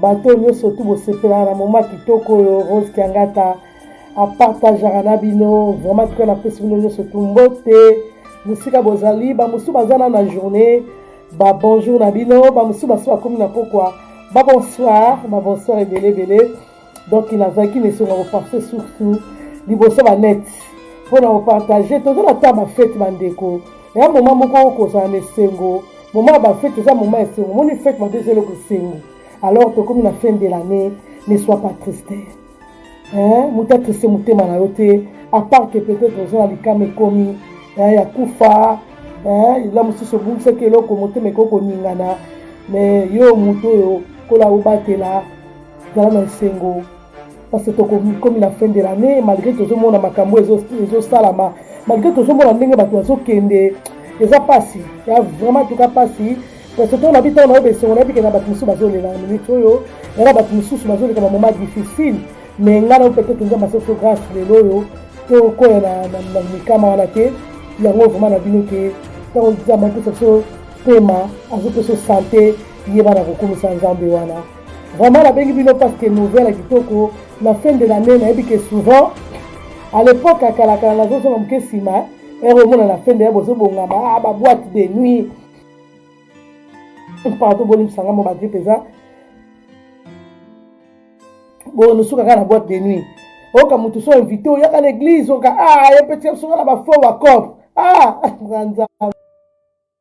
bato oyo nyonso tu bosepelaka na moma kitoko oyo rose kiangata apartagaka na bino vraiment tuka napesi bino nyonso tu mbote mosika bozali bamosusu baza na na journée babonjour na bino bamosusu basi bakomi na pokwa babonsoir babonsoir ebele ebele donc nazalaki na esengo ya kopartage surtout liboso banete mpo na kopartage toza na ta bafete bandeko ya moma moko kozala na esengo moma ya bafete eza moma ya esengo moni fete mabe eza eloko esengo alors tokomi na fin de l'année ne soit pas triste moto atriste motema na yo te apart que peut-être oza na likama ekomi ya kufa eza mosusu obungisaki eloko motema ekoki koningana mais yo moto oyo kola obatela zala na esengo parce que tokomi na fin de l'année malgré tozomona makambo ezosalama malgré tozomona ndenge bato bazokende eza mpasi ya vraiment tuka mpasi parce que ntango nabi ntango nayoba esengo nayebi kena bato mosusu bazolela na minute oyo yana bato mosusu bazoleka na moment difficile mais ngai nayo peut-être nzambe asoso grâce lelo oyo tokoya na mikama wana te yango vraiment na bino ke ntango nzambe apesa biso pema azopesa sante yeba na kokumisa nzambe wana Vraiment nabengi bino parce que nouvelle kitoko na fin de l'année nayebi que souvent à l'époque ya kalakala nazozonga moke nsima ere omona na fin de l'année bozobongama ah, baboite de nuit pardon bolimbisanga mo badie mpenza bonosuka kaka na boite de nuit oyoka moto so invité oyaka na église oyoka a ah, ye mpe tia biso kaka na bafo bacope a ah, nzanza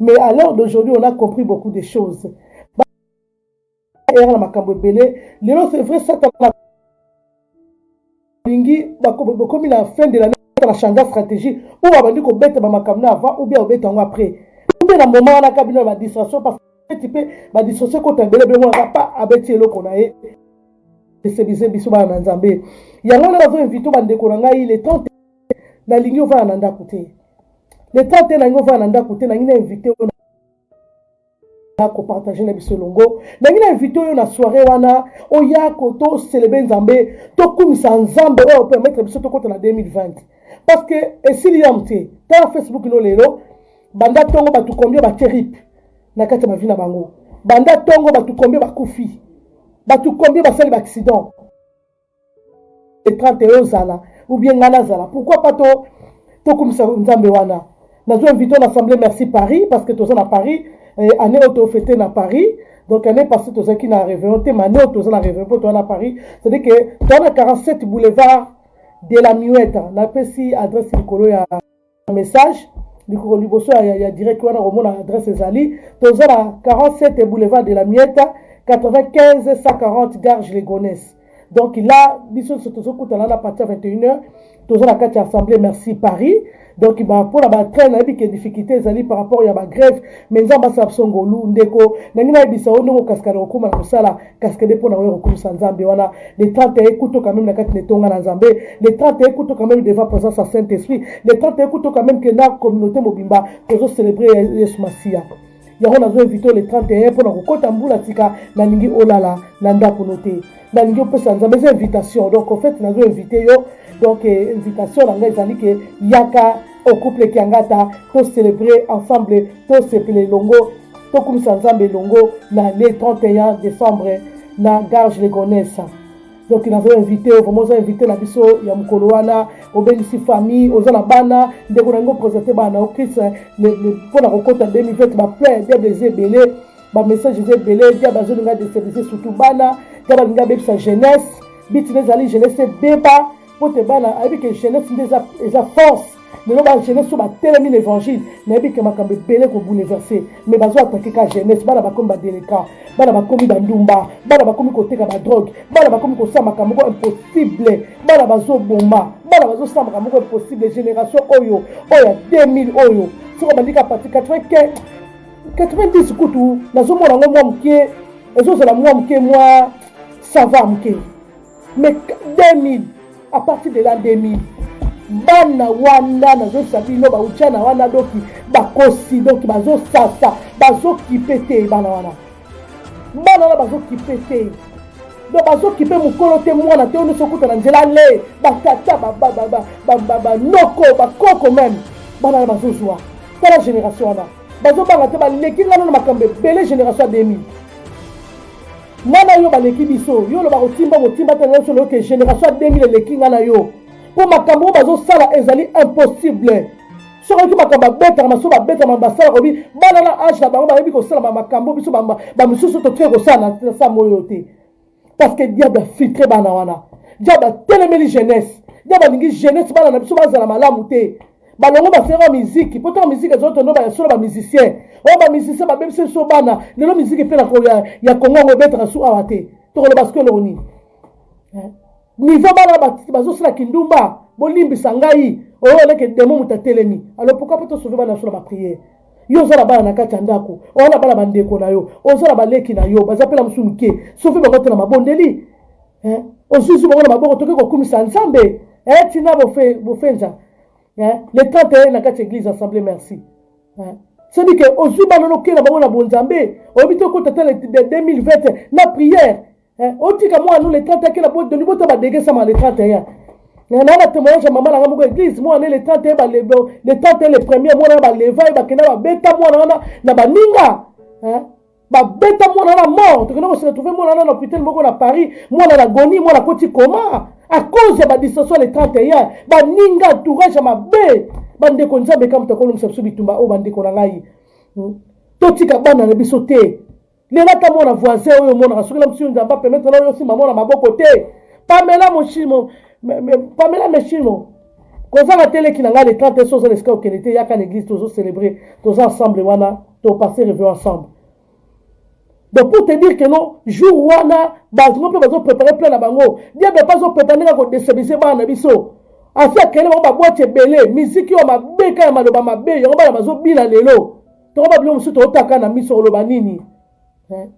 Mais à l'heure d'aujourd'hui, on a compris beaucoup de choses. Ba- erreur na makambo ebele. Lelo, c'est vrai, Satana alingi bako- bakomi na fin de l'année na change stratégie ou abandi kobeta bamakambo na avant ou bien obeta yango après ou bien na moment wana kaka bino na badistraction parce que ti mpe badistraction ekota ebele ebele mwana pa abeti eloko na ye esebise biso bana na nzambe yango wana bazoinvite bandeko na ngai le temps nalingi ovanda na ndako te le temps te nalingi ovanda na ndako te nalingi na invité oyo kopartage na biso elongo nalingi na invité oyo na soirée wana oya toselebe nzambe tokumisa nzambe oyo permettre biso tokota na 2020 parce que esili yam te tala facebook no lelo banda ntongo bato kombie batie rip na kati ya bavi na bango banda ntongo bato kombie bakufi bato kombie basali baaccident le 31 ozala ou bien ngai nazala pourquoi pas to tokumisa nzambe wana nazo invite na assemblée merci paris parce que toza na paris eh, année oyo tofete na paris donc année passée tozalaki na réveillon te mane oyo toza na réveillon mpo toza na paris cetadire que toza na 47 boulevard de la muette napesi adresse likolo ya message likolo liboso ya, ya, ya direct wana komona adresse ezali toza na 47 boulevard de la mieta 95 140 garge legonese donc la biso nyonso tozokutana na parti ya 21 heure toza na kati ya assemblée merci paris donc mpo na batrain nayebi ke difficulté ezali par rapport ya bagrève mais nzambe asala biso ngolu ndeko nangi nayebisa yo ndenge okasikana kokóma na kosala kaskede mpo na oyo kokumisa nzambe wana le 31 ekuto quand même na kati na etonga na nzambe le 31 ekuto quand même devant présence ya saint esprit le 31 ekuto quand même ke na communauté mobimba tozo célébrer yesu masiya yango nazo invite le 31 mpo na kokɔta mbula tika nalingi olala na ndako no te nalingi opesa nzambe eza invitation donc en fait nazo invite yo donc eh, invitation na ngai ezali ke yaka o couple kiangata to celebre ensemble to sepela elongo tokumisa nzambe elongo na le 31 décembre na garge legonese donc nazo invité vraiment oza invité na biso ya mokolo wana obengisi famille oza na bana ndeko na yango présente bana na yo christ mpo na kokota 2020 baplain bible eza ebele bamessage eza ebele diable azolinga destabilise surtout bana diable alingi abebisa jeunesse bitina ezali jeunesse ebeba mpo te bana ayebi ke jeunesse nde eza, eza force lelo ba jeunesse oyo batelemi na évangile nayebi ke makambo ebele kobouleverse mais bazoatake ka jeunesse bana bakomi badeleka bana bakomi bandumba bana bakomi koteka badrogue bana bakomi kosala makambo moko impossible bana bazoboma bana bazosala makambo moko impossible génération oyo oyo ya 2000 oyo soki obandi ka parti 95 90 kutu nazomona yango mwa moke ezozala mwa moke mwa sava moke mais 2000 à partir de la 2000 bana wana nazozisa bino bauchana wana doki bakosi doki bazosasa bazokipe te bana wana bana wana bazokipe te donc bazokipe mokolo te mwana te oyo nyonso okuta na nzela le batata banoko bakoko meme bana wana bazozwa tala génération wana bazobanga te baleki ngano na makambo ebele génération ya 2000 Nga na yo baleki biso, yo olobaka otimba motimba te na yo solo ke generation ya 2000 eleki nga na yo. Mpo makambo oyo bazosala ezali impossible. Soki oyoki makambo babetaka maso babetaka basala kobi bana na age na bango bayebi kosala makambo biso bamosusu totikaki kosala na sama oyo te. Parce que diable afiltre bana wana. Diable atelemeli jeunesse. Diable alingi jeunesse bana na biso bazala malamu te. balongo basengaka ba miziki mpo ntango miziki ezali tondo bayasolo ba musicien oyo oh, ba musicien babebisi biso bana lelo miziki mpe ya, ya kongo yango ebetaka su awa te tokoloba siko eloko nini eh? nivo bana bazosala kindumba bolimbisa ngai oyo oh, oleke demo moto atelemi alo pourkui mpo tosove bana biso na bapriere yo oza na bana na kati ya ndako oza na bana bandeko na yo oza na baleki na yo baza mpe na mosusu moke sofi bango te na mabondeli eh, ozuzi bango na maboko toke kokumisa nzambe eh, tina bofenza eh, le 31 na kati église assemblée merci eh. soki ke ozwi bana nokela bango na bonzambe oyebi te okota ta le 2020 na prière eh, otika mwana no le 31 akela bodoni bota badegesama le 31 na na témoignage ya mama na nga moko église mwana le 31 balebo le 31 le premier mwana baleva ye bakenda babeta mwana wana na baninga eh. babeta mwana na mort tokende ko se retrouver mwana na hôpital moko na Paris mwana na goni mwana koti koma à cause ya ba distraction le 31 baninga entourage ya mabe bandeko nzambe kaka moto akolomisa biso bitumba oyo bandeko na ngai hmm. totika bana na biso te lela ata mwana voisin oyo omonaka soki na mosusu nzambe apermetre na oyo osimba mwana maboko te pamela moshimo pamela meshimo Kozanga te leki na nga le 30 soki oza na esika okende te yaka na eglise tozo celebrer toza ensemble wana to passer revue ensemble donc pour te dire que non jour wana bato mpe bazo préparer plein na bango diable mpe azo préparer ndenge akodestabilise bana na biso asi akende bango babwati ebele miziki oyo mabe ka ya maloba mabe yango bana bazobina lelo toko babilo mosusu tootaka na miso oloba nini eh?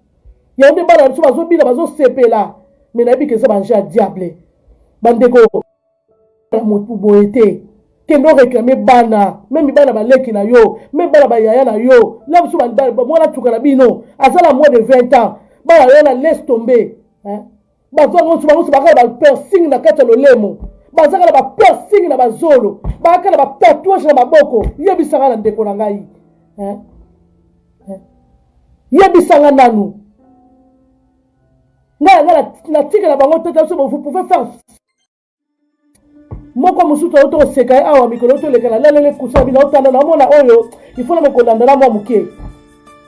yango nde bana na biso bazobina bazosepela me nayebi ke eza banje ya diable bandeko ya motu boye te kende oreklame bana meme bana baleki na yo meme bana bayaya na yo la biso mwana tuka na bino aza na moins de 20 ans bana yo na laisse tomber bazwaka nyonso bango nyonso bakala bapersing na kati ya lolemo bazaka na bapersing na bazolo bakaka na batatouage na maboko yebisaka na ndeko na ngai yebisanga nanu ngai yanga natikela bango tata biso vous pouvez faire moko mosusu auti koseka ye awa mikolo auti oleka nalaleli ekusa na bino aotanda naomona oyo ifona mokolanda na mwa moke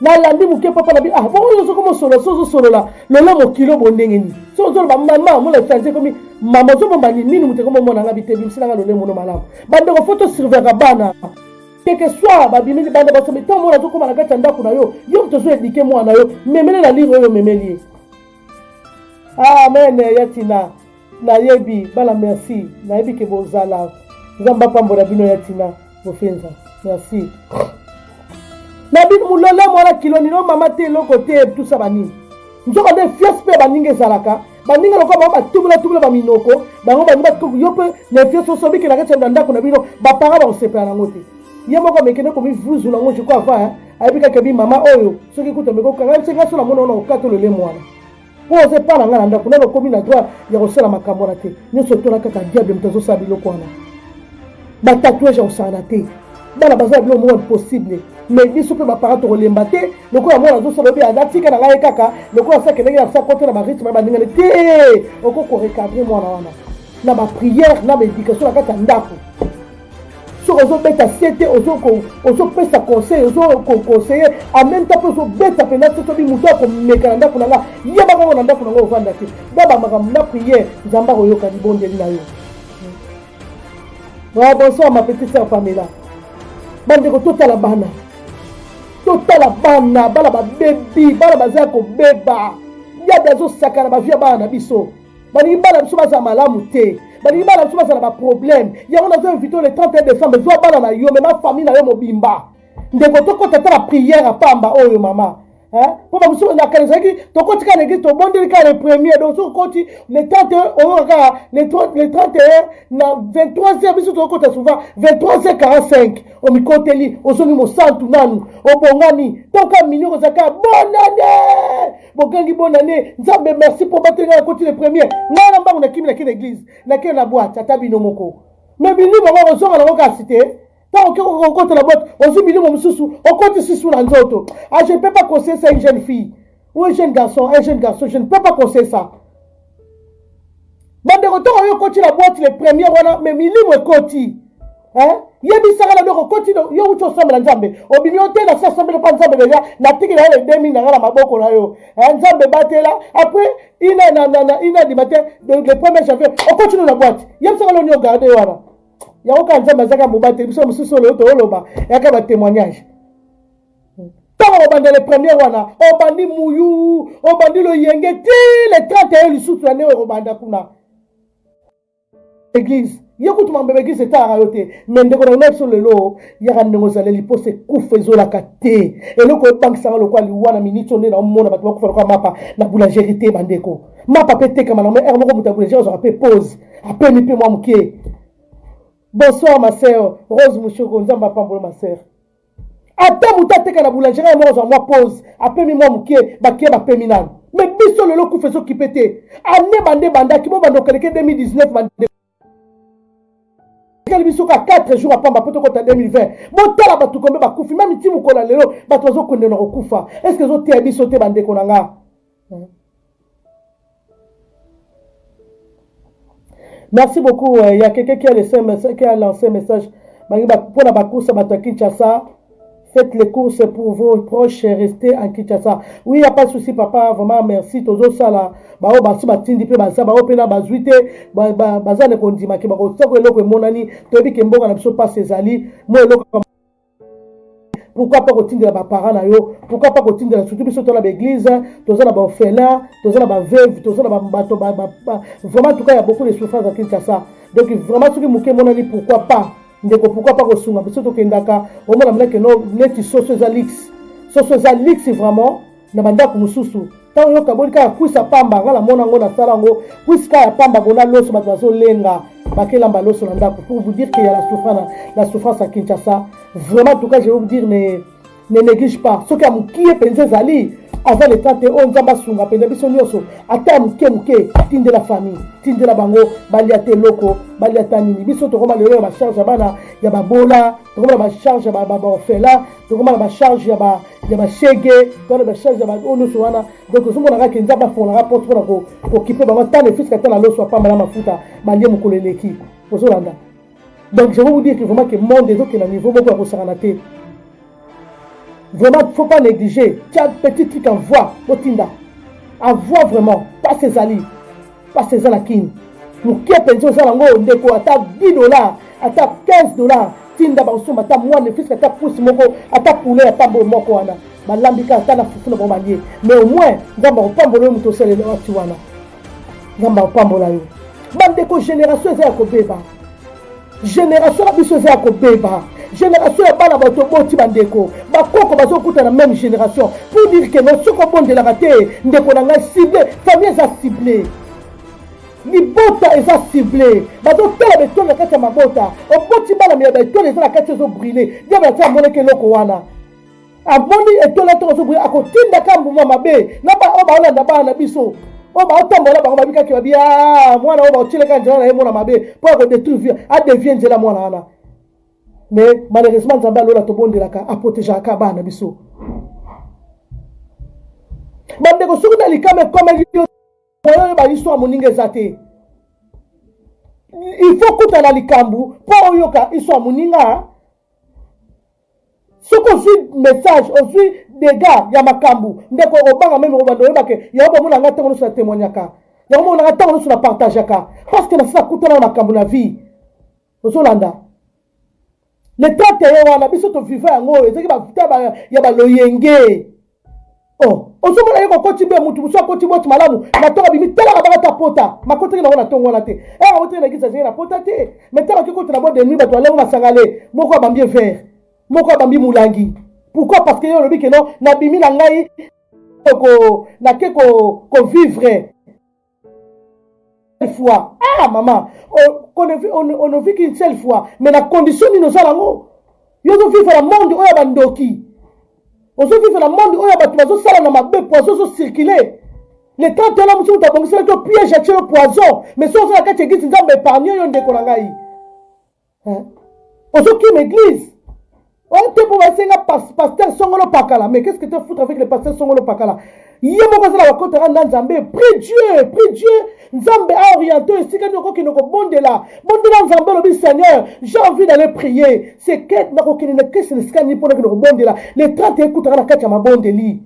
nalandi moke papa na bino ah bongo yo soko mosolo so ozosolola lelo mokilo bo ndenge nini so ozoloba mama mona efanzi ekomi mama ozobomba nini nini moto ekomi omona nga bite bimisela nga lolemo no malamu bandeko fo tosurveillaka bana keke swa babimi libanda basomi ntango mona azokoma na kati ya ndako na yo yo moto ozoedike mwana yo memele na lire oyo omemeli ye amen ya tina nayebi bana merci nayebi ke bozala nzambe apambola bino ya tina bofenza merci na bino molole mwana kilo nino mama te eloko te tusa banini nzoka nde fiase mpe baninga ezalaka baninga lokola bango batubulatumula baminoko bango bani yo mpe na fiase oso obikelaka ti na ndako na bino bapara bakosepela nango te ye moko amekende komivuzula yango jiko ava ayebi kaka bi mama oyo soki kutu ameki kokanga yebisi ngai so namona ona kokata lolemo wana mpo oza epa na ngai na ndako nano okomi na droit ya kosala makambo wana te nyonso tola kaka diable moto azosala biloko wana batatouage ya kosangana te bana baza na biloko moko impossible mais biso mpe baparent tokolemba te lokola mwana azosala obi atika na ngai kaka lokola asa kendenge na sa kote na barythme ya baningani te okoki korecadre mwana wana na baprière na baéducation na kati ya ndako soki ozobeta sete ozopesa conseil ozoconseille en même temps mpe ozobeta mpenza soki soki moto akomeka na ndako na nga yeba kaka na ndako na nga ovanda te baba makambo na priere nzambe akoyoka libondeli na yo wa bonsoir ma petite sœur pamela bandeko totala bana totala bana bana babebi bana baza ya kobeba yabe azosakana bavia bana na biso balingi bana biso bazala malamu te balingi bana biso bazala baproblème yango nazo invite le 31 décembre zwa bana na yo me na famille na yo mobimba ndeko tokota ata na prière ya pamba oyo mama mpo bamosusu nakala ezalaki tokoti kaka na eglise tobondeli kaka le premier donc soki okoti le 31 oyoka kaka le 31 na 23 heure biso tokokota souvent 23 heure 45 omikoteli ozongi mosantu nanu obongami toka mini okozala kaka bonane bogangi bonne année nzambe merci mpo bateli ngai nakoti le premier ngai na mbangu nakimi nake na église nake na boite ata bino moko me bilimo ngo kozonga nango kasi te ntango oke kokota na boite ozwi bilimo mosusu okoti susu na nzoto a ah, je ne peux pas conseiller ça une jeune fille ou un jeune garçon un jeune garçon je ne peux pas conseiller ça bandeko ntango oyo ekoti na boite le premier wana me milimo ekoti yebisaka na biloko okoti yo wuti osambela nzambe obimi yo te nasi asambeli mpa nzambe deja natiki na yo le 2000 na ngai na maboko na yo nzambe batela apres ina na na na ina dima te le premier janvier okoti no na boite yebisaka loni ogarde ye wana yango kaka nzambe azaka mobateli biso mosusu oyo tooloba yaka batémoignage ntango obanda le premier wana obandi muyu obandi loyenge ti le 30 eyo lisusu ya neo ekobanda kuna eglise ye kutu mambo ya baeglise etalaka yo te me ndeko na bino biso lelo yaka ndenge ozaleli mposa ekufa ezolaka te eloko ebangisaka lokola liwa na miniti nde naomona bato bakufa lokola mapa na boulangerie te bandeko mapa mpe etekama nango ere moko moto ya boulangerie azwaka mpe pose apemi mpe mwa moke bonsoir ma sœur rose mushoko nzambe apambolo ma sœur ata moto ateka na boulangerie ya moko azwa mwa pose apemi mwa moke bakie bapemi nano me biso lelo kufa ezokipe te ane bande bandaki bobanda okeleke 2019 bande ekeli biso ka 4 jours apamba mpo tokota 2020 botala bato kombe bakufi meme ti mokolo ya lelo bato bazokondela kokufa estce ezoteya biso te bandeko na nga Merci beaucoup. Euh, il y a quelqu'un qui a laissé un message, qui a lancé un message. Pour la course, à Kinshasa, faites les courses pour vos proches, restez en Kinshasa. Oui, il n'y a pas de souci, papa. Vraiment, merci. Tozo sala. Bao basi batindi pe baza bao pe na bazuite baza ne kondima ke bako tsako eloko emonani toyebi ke mboka na biso pasi ezali mo eloko pourquoi pas kotindela baparent na yo pourquoi pas kotindela surtout biso toza na baeglise toza na baorphelin toza na baveuve toza na bato vraiment tuka ya beaucoup de souffrance ya kinshasa donc vraiment soki moke emonani pourquoi pas ndeko pourquoi pas kosunga biso tokendaka omona mleke no neti soso eza lix soso eza lix vraiment na bandako mosusu ntango yo kaboli kaka kwisa pamba nga namona yango nasala yango kwisi kaka ya pamba bona loso bato bazolenga bakelamba loso na ndako pour vous dire que ya la souffrance la souffrance ya kinshasa vraiment tout cas je vais vous dire ne, ne néglige pas soki ya mokie mpenza ezali aza leta te oyo nzambe asunga mpenza biso nyonso ata ya moke moke tindela famille tindela bango balia te eloko balia ta nini biso tokoma lelo ya bacharge ya bana ya babola tokoma na bacharge ya baorphelin tokoma na bacharge ya ba ya bashege to na bacharge ya baoyo nyonso wana donc ozomona kaka kenza bafongolaka porte mpona kokipe bango ata nefiska ata na loso apambala mafuta balie mokolo eleki ozolanda donc je veux vous dire que vraiment que monde ezokenda niveau moko ya kosangana te vraiment faut pas négliger tia petit truc en voix botinda en voix vraiment pasi ezali pasi eza na kini moke mpenza oza nango oyo ndeko ata 10 dollars ata 15 dollars tinda bakosomba ata mwa nefiske ata pusi moko ata poulet ya pambo moko wana balambi kaka ata na fufu na bango balie mais au moins nzambe akopambola yo moto osalela wati wana nzambe akopambola yo bandeko génération eza ya kobeba generation na biso eza ya kobeba generation ya bana bato oboti bandeko bakoko bazokuta na meme generation pour dire que no soki obondelaka te ndeko na ngai cible famille eza cible libota eza cible bazotala betole na kati ya mabota oboti bana ya betole eza na kati ezobrile diable ati amonaki eloko wana amoni etola to azo boya akotinda ka mbuma mabe na ba oyo baolanda bana na biso oyo baotambola bango babi kaki babi ah, mwana oyo baotyelaka nzela na ye mwana mabe mpo ya kodetruire adevie nzela mwana wana mais malheureusement nzambe alola tobondelaka aprotegeaka ka bana na biso bandeko soki na likama ekomeli yo moyo oyo bayiso ya moninga eza te il faut kutana likambo mpo oyoka iso ya moninga Soki ozui message ozui degat ya makambu ndeko okobanga meme obanda oyeba ke yango bomona nga tango nioso na temoignaka yango bomona nga tango nioso na partagaka parce que nasi nakutana na makambu na vie ozolanda le temps te ye wana biso to viva yango ezaki ba temps ya ba loyenge Oh, ozomona ye kokoti be mutu mosusu akoti boti malamu na ntongo abimi talaka baka ta pota makotaki nango na ntongo wana te e akotaki na kisa azali na pota te me ntango ake kota na bwa denui bato balango masanga le moko abambi evere moko abambi molangi pourquoi parce que ye olobi keno nabimi na ngai nake kovivre fois ah mama onoviki une seule fois mais na condition nini oza nango yo ozovivre na monde oyo ya bandoki ozovivre na monde oyo ya bato bazosala na mabe poison ozocircule le temps tela mosusu moto abongiselaki yo piège atie yo poison mais so oza na kati eglise nzambe épargne yo ndeko na ngai Hein? Ozo kima eglise? Oh te pour basenga pasteur Songolo Pakala. Mais qu'est-ce que tu foutre avec le pasteur Songolo Pakala? Ye moko azala bakota kanda Nzambe. Prie Dieu, prie Dieu. Nzambe a orienté esika nini okokende okobondela. Bondela Nzambe olobi Seigneur, j'ai envie d'aller prier. C'est que nakokende na kesi na esika nini mpo nakende kobondela. Le 30 ekutaka na kati ya mabondeli.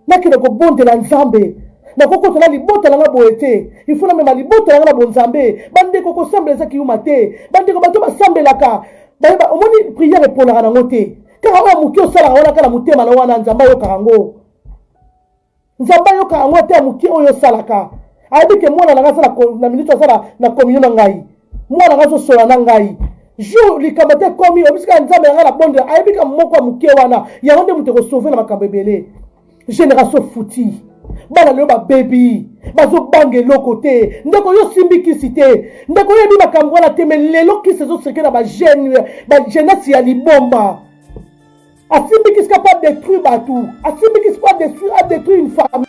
Nakende kobondela Nzambe. Nakokota na libota na nga boye te. Il faut namema libota na nga na bonzambe. Bandeko kosambela eza kiyuma te. Bandeko bato basambelaka. Bayeba omoni prière eponaka na ngo te. Kaka oyo muke osalaka wana kaka na motema na wana Nzambe ayokaka ngo. Nzambe ayokaka ngo ata ya muke oyo osalaka. Ayebi ke mwana na nga aza na minute aza na communion na ngai. mwana nga azosola na ngai jour likambo te ekomi obisi kaka nzambe na ngai na bondela ayebi ka moko ya moke wana yango nde moto ekosauve na makambo ebele génération fouti bana lelo babebi bazobanga eloko te ndeko yo osimbi kisi te ndeko oyebi makambo wana te me lelo kisi ezoseke na bagenese ya libomba asimbi kisi kapa détruire bato asimbi kisi po adétruire une famille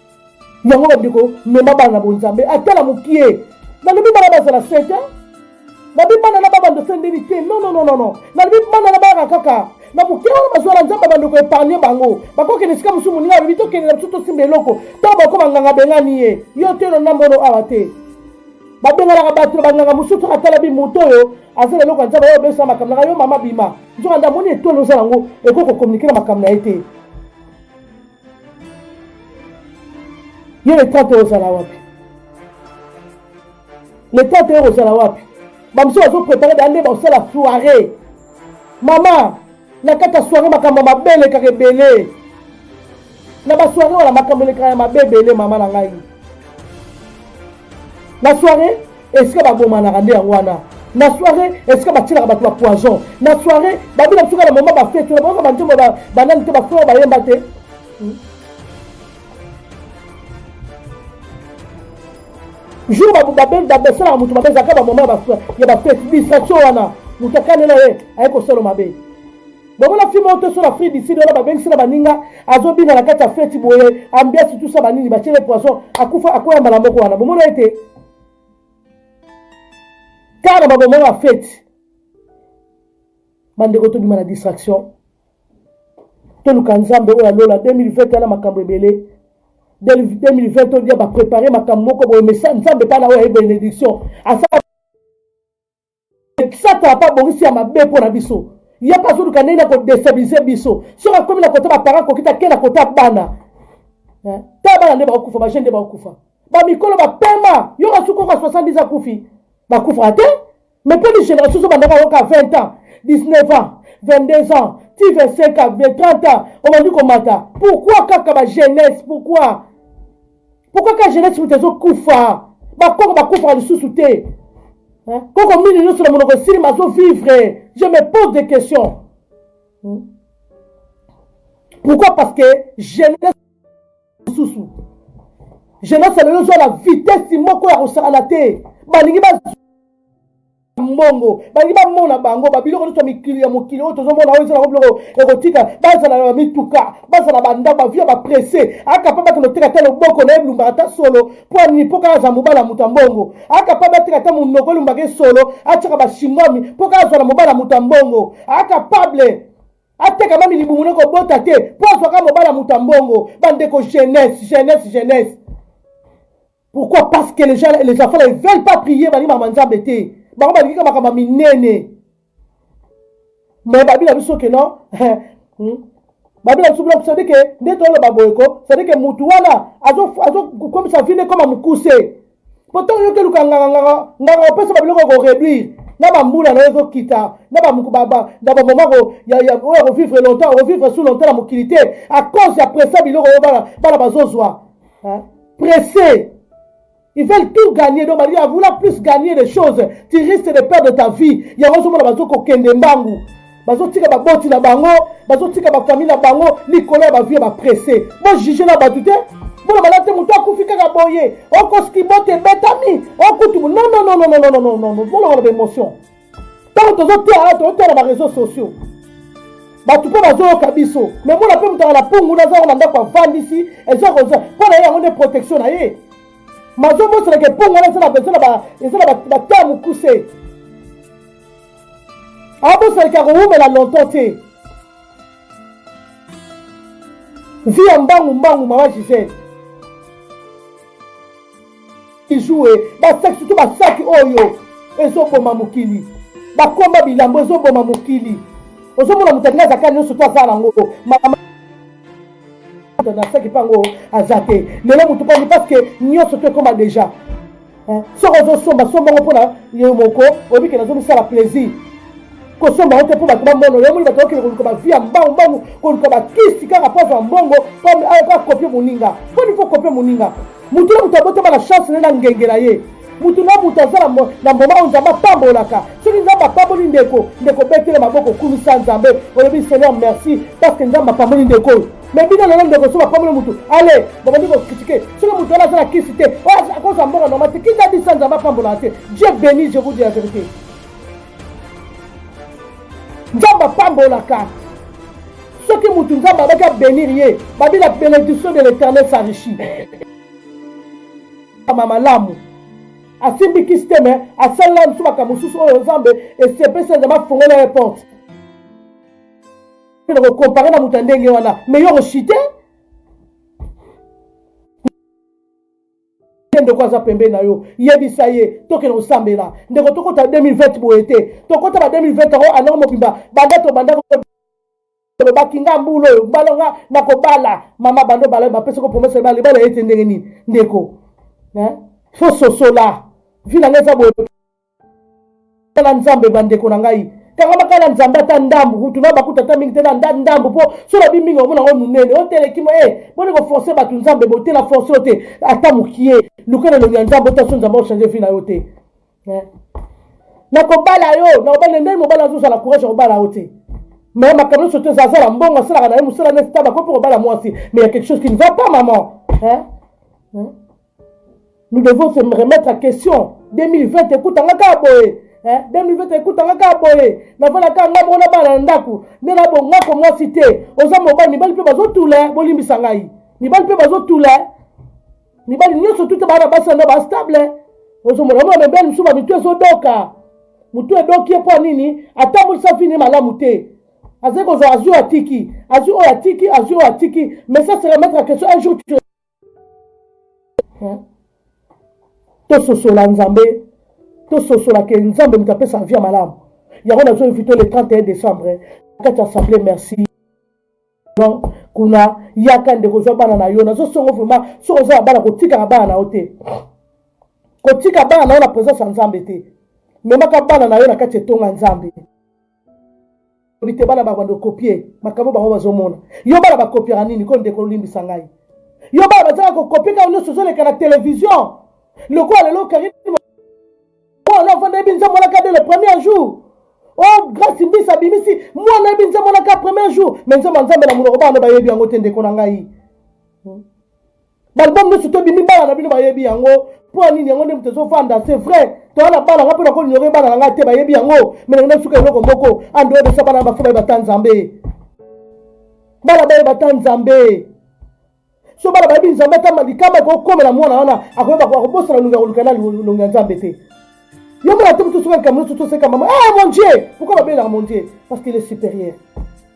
yango bandeko mema bana na bonzambe ata na mokie nalobi bana bazala sete nabi bana na babando se ndeni te nonononono nalobi bana na bayaka kaka na moke wana bazwa na nzambe bandeko epargne bango bakokende esika mosusu moninga alobi tokende na biso tosimba eloko ntango bakoma nganga bengani ye yo te na mbono awa te babenganaka bato na banganga mosusu soki atalabi moto oyo aza na eloko ya nzambe oyo obesa makambo nanga yo mama bima nzoka nde amoni etolo oza yango ekoki kokomunike na makambo na ye te ye leta te ozala wapi leta te ozala wapi bamosusu bazoprepare baya nde bakosala soirée mama na kati ya soirée makambo ya mabe elekaka ebele na basoirée wana makambo elekaka ya mabe ebele mama na ngai na soirée Esika ba bomanaka nde yango wana na soirée esika batielaka bato ba poison na soirée babina biso kaka na moma bafete na bayoka banzembo banani te bafrere bayemba te hmm. jour basalaka moto mabe ezalaka bamoma ya bafete distraction wana moto akanela ye aye kosolo mabe bomona fi moko toso na fri diside wana babengisi na baninga azobina na kati ya feti boye ambiasi tusa banini batiele poison akufa akoya mbala moko wana bomona ete kaka na babomona ya feti bandeko tobima na distraction toluka nzambe oyo ya lola 2020 ana makambo ebele 2020 todia baprepare makambo moko boye mesa nzambe mpana oyo aye benediction asala satana mpe abongisi ya mabe mpo na biso ye mpe azoluka ndenge na kodestabilize biso soki akomi na kota baparent akoki te ake na kota bana eh, ta bana nde bakokufa bajeune nde bakokufa bamikolo bapema yo kasuki oka 70 akufi bakufaka te mais mpe ni génération so bandaka oyoka 20 ans 19 ans 22 ans ti 25 ans 30 ans obandi komata pourquoi kaka bajeunesse pourquoi pourquoi ka jeunesse moto ezokufa bakoko bakufaka lisusu te koko mini nyonso na monoko esili mazo vivre je me pose des questions hmm? pourquoi parce que jeunesse lisusu jeunesse lelo ezwa na vitesse moko ya kosakana te balingi ba mbongo balingi bamona bango babiloko nyonso ya mikili ya mokili oyo tozomona oyo ezalaka biloko ya kotika bazala na bamituka bazala bandako bavia bapresse akapa bake noteka ata loboko na ye elumbaka ata solo mpo anini mpo kaka azala mobala moto ya mbongo akapa bateka ata monoko elumbaka ye solo atyaka bashingwami mpo kaka azala mobala moto ya mbongo akapable ateka mami libumu na kobota te mpo azwaka mobala moto ya mbongo bandeko jeunesse jeunesse jeunesse Pourquoi? Parce que les gens, les enfants là, ils veulent pas prier, balingi makambo ya Nzambe te. Bango balingi kaka makambo ya minene. Mais babi na biso que non, hmm? babi na biso biloko c'est que nde toloba boye ko, c'est que mutu wana azo azo komisa vie koma mukuse. Poto yo ke luka nganga nganga nganga opesa ba biloko ko réduire. Na ba mbula na ezo kita, na ba mukuba ba na ba mama ko ya ya oyo ko vivre longtemps, ko vivre sous longtemps na mokili te à cause ya pressa biloko yo bana bana bazozwa. Hein? Pressés. Ils veulent tout gagner. Donc, à vouloir plus gagner des choses, tu risques de perdre ta vie. Il y a raison, bazo ko kende mbangu. Bazo tika ba boti na bango, bazo tika ba famille na bango, Nicolas ba vie ba pressé. Moi juger na batute. Bon, ba late mutu akufi kaka boye. Oko skibote betami. Okutu. Non non non non non non non non non. Bon, on a l'émotion. ntango tozoteya tozoteya na bareseau sociaux bato mpe bazoyoka biso me mona mpe moto aa na pungu naza yango na ndako avandisi eza koza mpo na ye yango nde protection na ye mazomoselaka epungu wana eza na bataa mokuse abosalaki akowumela longtemps te vi ya mbangu mbangu mama gisele ijoue basaki surtout basaki oyo ezoboma mokili bakomba bilambo ezoboma mokili ozomona moto alingi azaka nyonso to azala yango mama nasaki mpe yango aza te lelo motu pani parce que nyonso to ekoma déjà soki ozosomba somba yango mpona yo moko oyebi ke nazomisala plaisir kosomba yo te mpo bato bamono yo moni bato bakende koluka bavie ya mbangu mbangu koluka bakisi kaka mpo azwa mbongo comme ayo kaka kopie moninga mpo nifo kopie moninga motu na moto abotama na chance na ye na ngenge na ye motu na moto aza na mboma oyo nzambe apambolaka soki nzambe apamboli ndeko ndeko obetele maboko okumisa nzambe olobi seigneur merci parce que nzambe apamboli ndeko oyo mais bino lelo ndeko soki bapamboli motu ale babandi kokritike soki motu wana aza na kisi te akozwa mbongo normal te kinda bisa nzambe apambolaka te dieu béni je vous dis la vérité nzambe apambolaka soki motu nzambe abaki abenir ye babila benediction de l'éternel sarichi kama malamu asimbi kisi te me asalela mosusu makambo mosusu oyo nzambe esepesi nzambe afongola ye porte na kokompare na moto ya ndenge wana me yo oshite te ndeko aza pembeni na yo yebisa ye tokende kosambela ndeko tokota 2020 boye te tokota ba 2020 yango anoko mobimba banda tobanda olobaki nga mbula oyo mbala nga nakobala mama banda obala bapesi ko promese libala libala ye te ndenge nini ndeko fo sosola vi na nga eza boye tala nzambe bandeko na ngai kanga makala nzambe ata ndambu kutu na bakuta ata mingi te na nda ndambu mpo so lobi mingi omona yango monene oteleki mo e boni koforce bato nzambe botela force oyo te ata mokie luka na elongi ya nzambe otaso nzambe ochange vi na yo te eh. nakobala yo nakobala ndenge mobala azozala courage ya kobala yo te mais makambo nyonso te zaza na mbongo asalaka na ye mosala neti taba ko mpe kobala mwasi mais ya quelque chose qui ne va pas maman eh? eh? nous devons se remettre en question 2020 ekutanga kaka boye 2020 ekutanga kaka boye nafanda kaka ngai moko na bana na ndako nde nabongako mwasi te oza mobali mibali mpe bazotula bolimbisa ngai mibali mpe bazotula mibali nyonso tuta bana basi yango bastable ozomona mona mibali mosusu bamitu ezodoka motu edoki ye mpo ya nini atambwisa vini malamu te azali kozwa azwi atiki azwi oyo atiki azwi oyo atiki mais ça se remettre en question un jour tu hein? tososola nzambe tososola ke nzambe moto apesa avi ya malamu yango nazo invite le 31 décembre hein? kati ya assemblée merci kuna yaka ndeko ozwa bana na yo nazosongo vraiment soki oza na bana kotikaka bana na yo te kotika bana na yo na présence ya nzambe te memaka bana na yo na kati etonga nzambe te bana babanda okopie makambo bango bazomona yo bana bakopiaka nini ko ndeko olimbisa ngai yo bana bazalaka kokopie kaka nyonso ozoleka na televizio lokola lelo karine ola ofanda yebi nzambo olaka de le premier jour oh grace mbisa abimisi mwana yebi nzambo olaka premier jour me nzambo nzambe na monoko bana bayebi yango te ndeko na ngai hmm? balbum nyonso to bimi bana na bino bayebi yango mpo ya nini yango nde moto ezofanda c'est vrai toya na bana nga mpo nakolinyore bana na ngai te bayebi yango me nangai nasuka eloko moko ande oyo bana bafo bayeba ta nzambe bana bayeba ta nzambe so bana bayebi nzambe ata likama ekokomela mwana wana akoyeba akobosana longi akoluka na longi ya nzambe te yo mona te moto soka likambo nyonso toseka mama ah mon dieu pourkoi babelaka mon dieu parce qu'il est supérieur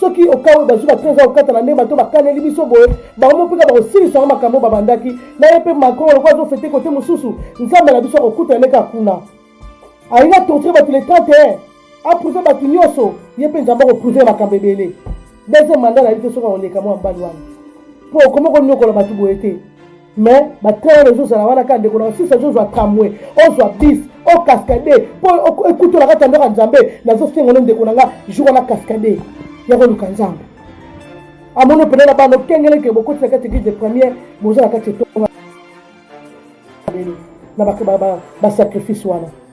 soki okawe bazwi bato eza kokata na ndenge bato bakaneli biso boye bango moko mpeka bakosilisa yango makambo babandaki na ye mpe macron lokola azofete kote mosusu nzambe na biso akokutana nde kaka kuna alingi atorture bato le 31 aprouve bato nyonso ye mpe nzambe akoprouve makambo ebele deuxième mandat na ye te soki akoleka mwa mbali wana mpo okomi konyokola bato boye te Mais ba train ezo zala wana ka ndeko na sisi azo zwa tramway ozwa bis o cascade po ekuto na kati ya ndako ya Nzambe nazo senga no ndeko na nga jour wana cascade ya ko luka Nzambe amono pele na bano kengele ke bokoti na kati église de première boza na kati etonga na ba ba sacrifice wana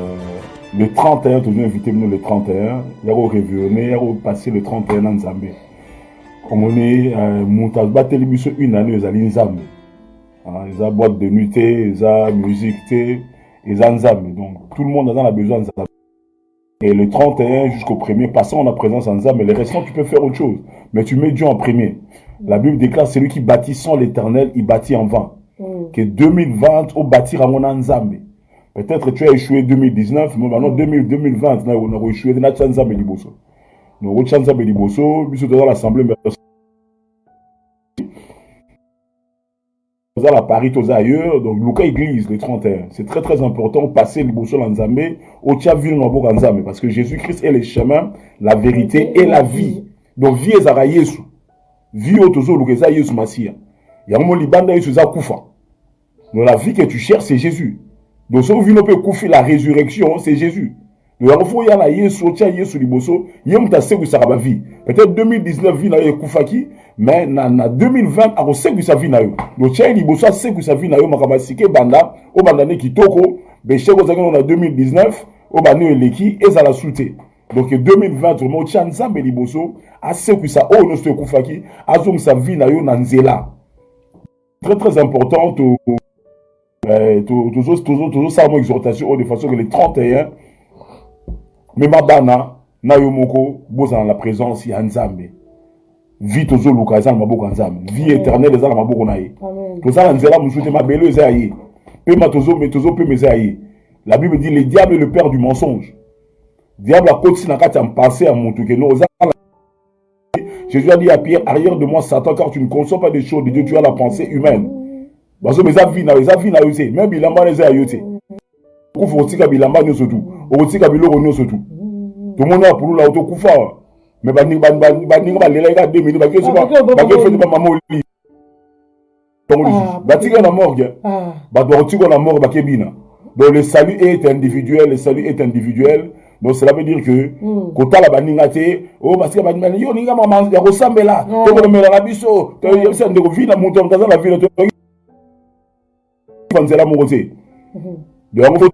Euh, le 31 tozo invité bino le 31 ya ko revione ya ko passer le 31 na nzambe omoni euh, moto abateli biso une année ezali nzambe ah, eza boîte de nuit te eza musique te eza nzambe donc tout le monde aza na besoin nzambe et le 31 jusqu'au premier passant na présence ya nzambe le restant tu peux faire autre chose mais tu mets dieu en premier la bible déclare celui qui bâtit sans l'éternel il bâtit en vain mm. que 2020 obâtir yango na nzambe peut-être tu as échoué 2019 mais maintenant 2000 2020 na na ko échouer na tsa nzambe liboso na ko tsa nzambe liboso biso toza l'assemblée merci toza la Paris toza ailleurs donc luka église le 31 c'est très très important passer liboso la nzambe au tsa ville na boka nzambe parce que Jésus-Christ est le chemin la vérité et la vie donc vie ezaka Yesu vie oyo tozoluka eza Yesu Masiya yango mo libanda Yesu eza kufa Donc la vie que tu cherches c'est Jesus. Donc soki vino pe kufi la résurrection c'est Jesus. Donc yango faut ya na Yesu otia Yesu liboso ye muta sekwisa ba vie. Peut-être 2019 vie na yo ekufaki mais na, na 2020 ako sekwisa vie na yo. Donc tia liboso sekwisa vie na yo makaba sike banda o banda ne kitoko be sheko zakino na 2019 o banda eleki ezala soute. Donc 2020 vraiment tia Nzambe liboso asekwisa oyo nyonso ekufaki azongisa vie na yo na nzela. très très important to eh, tozosala mo exhortation oyo de façon que le 31 mema bana na yo moko bozala na présence ya nzambe vie tozoluka eza na maboko ya nzambe vie éternelle eza na maboko na ye toza na nzela mosusu te mabele eza ya ye pema tozopema eza ya ye la bible dit le diable le père du mensonge diable akotisi na kati ya mpase ya motu keno oza Jésus a dit à Pierre, arrière de moi Satan, car tu ne conçois pas des choses de Dieu, tu as la pensée humaine. Parce que eza vie na eza vie na yo te, même bilamba wana eza ya yo te. Kufa otika bilamba nyonso tu, okotika biloko nyonso tu. Tomoni ya pulula otokufa awa. Mais baninga balelaki kaka 2 minutes, bakei soki bakei feti bamama oli. tongolisi Ah, batika na morgue Ah, bato bakotikwa na morgue bakebina donc le salut est individuel le salut est individuel donc cela veut dire que Mm. kotala baninga te o basika baninga yo olinga mama ya kosambela Mm. tokolomela na biso toyebisa ndeko vi na moto moto aza na vino toyeba nzela moko te mhm. donc yango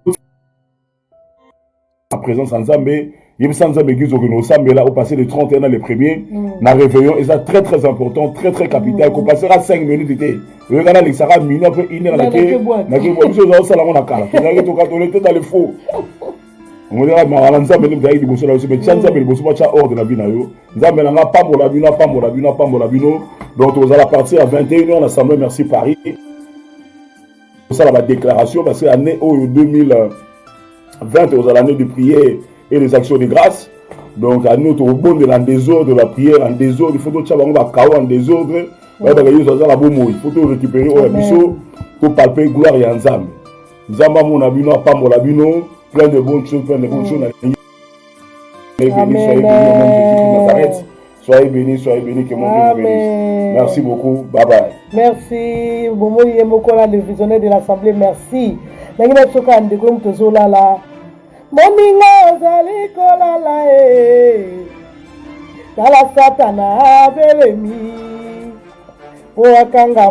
na présence ya nzambe yebisa nzambe eglise okende osambela opasse le 31 na le premier mm. na réveillon eza très très important très très capital mm. kopasaka 5 minutes te oyekana alekisaka mino mpe ine nakebwa biso eza osala yango na kala tozalaki tokatole te na le faux omolaka mawa na nzambe nde mozalaki liboso na biso me tya nzambe liboso batya ordre na bino na yo nzambe na nga apambola bino apambola bino apambola bino donc tokozala partir ya 21 heure na semble merci paris kosala ba déclaration parce que année oyo 2020 ozala année de prière et les actions de grâce donc année oyo tokobondela en désordre ba prière en désordre faut totya bango bakao en désordre bayebaka yesu aza na bomoi faut to récupérer oyo ya biso topalpe gloire ya nzambe nzambe amona bino apambola bino plein de bonne chose plein de bonne chose na Soyez bénis, soyez bénis, que mon Dieu vous bénisse. Merci beaucoup, bye bye. Merci, Bomo Yemokola, le visionnaire de l'Assemblée, merci. Nangi na tsoka ndeko moto zolala. Moninga ozali kolala eh. Tala satana abelemi. Oakanga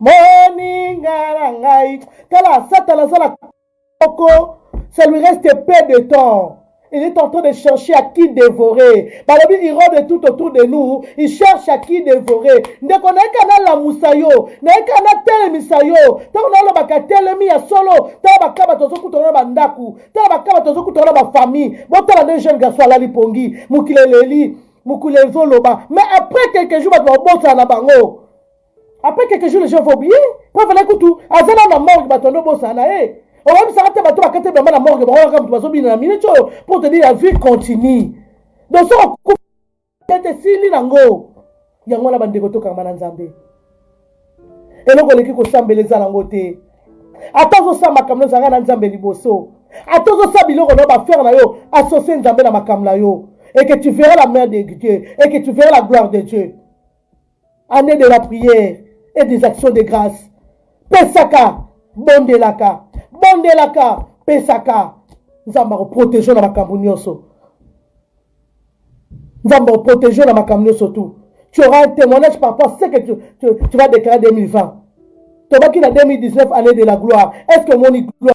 moninga na ngai tala satana aza na moko ça lui reste peu de temps il est en train de chercher à qui dévorer balobi irode tout autour de nous il cherche à qui dévorer ndeko nayeka nalamusa yo nayeka natelemisa yo ntango nalobaka telemi ya solo tala baka bato ozokutana na bandako tala baka bato ozokutana na bafamille botala nde jeune garçon alali pongi mokili eleli mokili ezoloba mais après quelques jours bato babosana na bango après quelques jours les gens vont oublier po fallait kutu aza na na morgue bato ando bosana na ye oyebisaka te bato bakati bamba na morgue bango kaka moto bazobina na minute oyo pour te dire la vie continue donc soki okete esili nango yango wana bandeko tokangama na nzambe eloko eleki kosambela eza nango te ata ozosala makambo nozanga na nzambe liboso ata ozosala biloko na yo bafere na yo associe nzambe na makambo na yo et que tu verras la main de dieu et que tu verras la gloire de dieu annee de la prière et des actions de grâce pesaka bondelaka bondelaka pesaka nzambe akoprotege na makambo nyonso nzambe akoprotege na makambo nyonso tout tu auras un témoignage par rapport à ce que tu, tu, tu vas déclarer 2020 tobaki na 2019 année de la gloire est ce que omoni gloire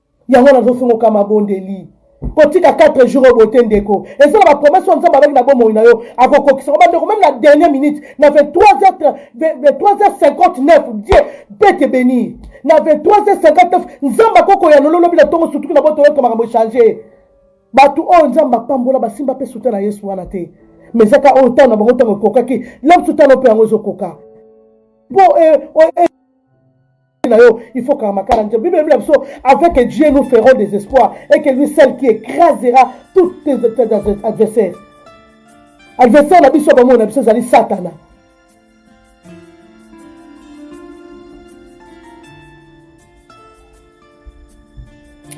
Yango nazo sunga ka mabondeli. Kotika 4 jours oyo boye te ndeko. Eza na ba promesse oyo Nzambe alaki na bomoi na yo akokokisa. Ba ndeko meme na dernière minute na 23h 23h59 Dieu peut te benir. Na 23h59 Nzambe akoki koyanola lobi na tongo sutuki na boto oyoka makambo echange. Batu oyo Nzambe apambola basimba pe suta na Yesu wana te. Mais eza ka oyo tango na bango tango ekokaki. Lelo biso talo pe yango ezokoka. Po e, e, e. na yo il faut kanga makala nzambe bible elobi na biso avec dieu nous ferons des espoirs et que lui seul qui écrasera toutes tes adversaires adversaire na biso bamoi na biso ezali satana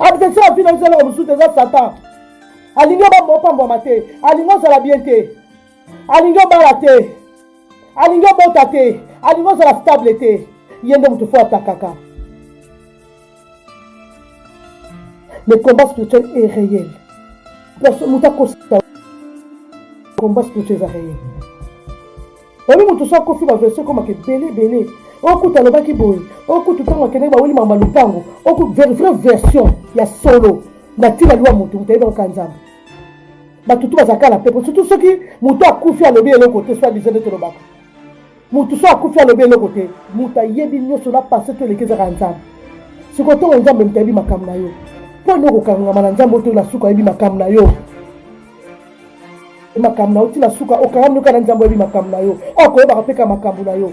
adversaire avi na biso eloko mosusu te eza satan alingi obamba opambwama te alingi ozala bien te alingi obala te alingi obota te alingi ozala stable te ye nde moto fo atakaka le combat spirituel est réel moto akosisa combat spirituel eza réel oyebi moto so akofi baversion ekomaka ebele ebele okutu alobaki boye okutu ntango akendaki baweli mama lopango oku vraie version ya solo na ntina liwa moto moto ayebaka kaka nzambe bato tu bazalaka na pepo surtout soki moto akufi alobi eloko te so adiza nde tolobaka moto so akufi alobi eloko te moto ayebi nyonso na passe to eleki ezaka ya nzambe soki otongo nzambe moto ayebi makambo na yo mpo nde okokangama na nzambe otoyo na suka ayebi makambo na yo makambo na yo ntina suka okangami noka na nzambe oyebi makambo na yo akoyebaka mpeka makambo na yo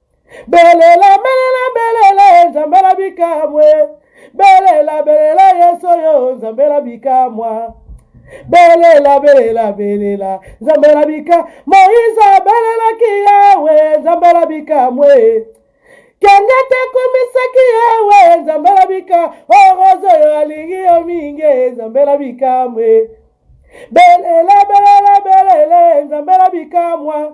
belela belela belela ye nzambe na bikamwe belela belela yesu oyo nzambe na bikamwa belela belela belela nzambe na bika moize abelelaki yawe nzambe na bikamwe kende te komisaki yawe nzambe na bika oroze oyo alingi yo mingi nzambe na bikamwe belela belela belela nzambe na bikamwa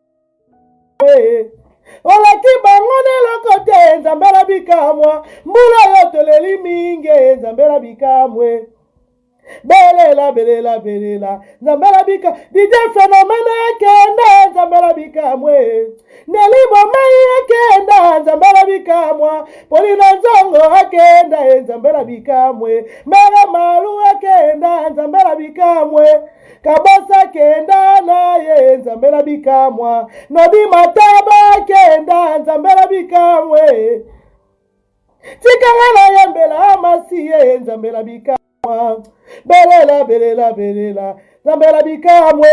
Eh, oleki bango neloko te nzambe na bikamwa mbula oyo toleli mingi eh, nzambe na bikamwe belela belela belela nzambe na bika didie fenomene ekenda nzambe na bikamwe nelimo mai ekenda nzambe na bikamwa polina nzongo akenda e eh, nzambe na bikamwe mere malu ekenda nzambe na bikamwe eh, kabasa kenda na ye nzambe na bikamwa na bimataba kenda nzambe na bikamwe tikanga na yembela masiye nzambe na bikamwa belela belela belela nzambe na bikamwe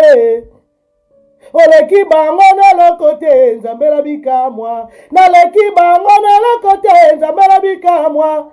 oleki bango na eloko te nzambe na bikamwa naleki bango na eloko te nzambe na bikamwa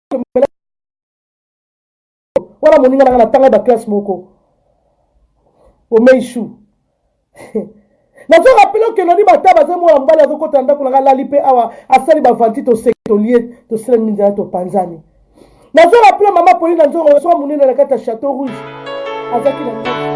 komela wana moninga nanga natanga ba classe moko omeishu nazo rappele oke nani bata baza mwana mobali azokota na ndako nanga lali mpe awa asali bavanti toseki tolie tosila minzala topanzani nazo rappele mama polina nzongo soka monene na kati ya chateau rouge azaki na